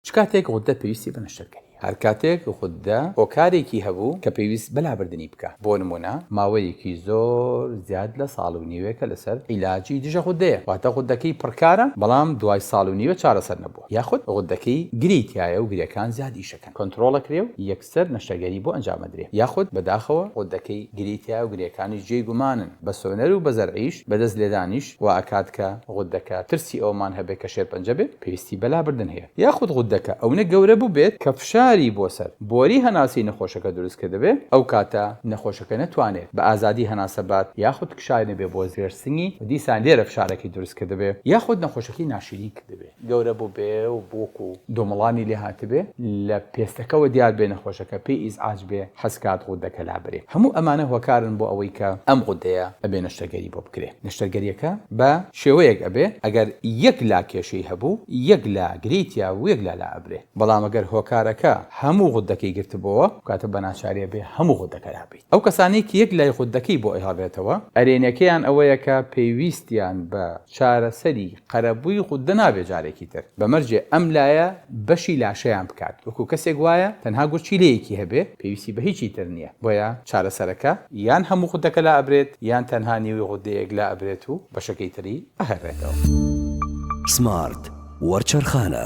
چ کاتێک غوددە پێویستی بە نەشتەرگەری هەبوو؟ هەر کاتێک غوددە هۆکارێکی هەبوو کە پێویست بە لابردنی بکا. بۆ نموونە ماوەیەکی زۆر زیاد لە ساڵ و نیوێکە لەسەر عیلاجی دژە غوددەیە، واتە غوددەکەی پڕکارە بەڵام دوای ساڵ و نیوێ چارەسەر نەبووە، یاخود غوددەکەی گری تیایە و گرێکان زیاد ئیش ئەکەن کۆنتڕۆڵ ئەکرێ و سەر نەشتەگەری بۆ ئەنجام ئەدرێ یاخود بەداخەوە غودەکەی گرێی تیایە و گرێکانیش جێی گومانن بە سۆنەر و بە زەرعیش بە دەست لێدانیش وا ئەکات کە غودەکە ترسی ئەوەمان هەبێ کە شێرپەنجە بێ پێویستی بە لابردن هەیە یاخود غودەکە ئەونە گەورە بوبێت کە فشاری بۆ سەر بۆری هەناسەی نەخۆشەکە دروست کردبێ ئەو کاتە نەخۆشەکە نەتوانێت بە ئازادی هەناسە بات یاخود کشاوی نەبێ بۆ ژێر سنگی و دیسان لێرە فشارەکەی دروست کردبێ یاخود نەخۆشەکەی ناشیرین کردبێ. گەورە بوبێ و بوک و. دۆمڵانی لێ هاتبێ، لە پێستەکەوە دیار بێ نەخۆشەکە پێی ئیزعاج بێ حەز کات غودەکە لابرێ. هەموو ئەمانە هۆکارن بۆ ئەوەی کە ئەم غودەیە ئەبێ نەشتەرگەری بۆ بکرێ. نەشتەرگەریەکە بە شێوەیەک ئەبێ ئەگەر یەک لا کێشەی هەبوو یەک لا گرێی تیا بوو یەک لا لا ئەبرێ. بەڵام ئەگەر هۆکارەکە هەموو غودەکەی گرتبۆوە ئەو کاتە بە ناچاری ئەبێ هەموو غودەکە لابرێ. ئەو کەسانەی کە یەک لای خۆت دەکەی بۆ ئەیهەڵێتەوە. ئەرێنیەکەیان ئەوەیە کە پێویستیان بە چارەسەری قەرەبووی غوددە نابێت جارێکی تر بە مەرجێ ئەم لایە بەشی لاشەیان بکات وەکو کەسێک وایە تەنها گورچیلەیەکی هەبێ پێویستی بە هیچی تر نیە بۆیە چارەسەرەکە یان هەموو غوددەکە لا ئەبرێت یان تەنها نیوەی غوددەیەک لا ئەبرێت و بەشەکەی تری ئەهەرێتەوە. سمارت وەرچەرخانە.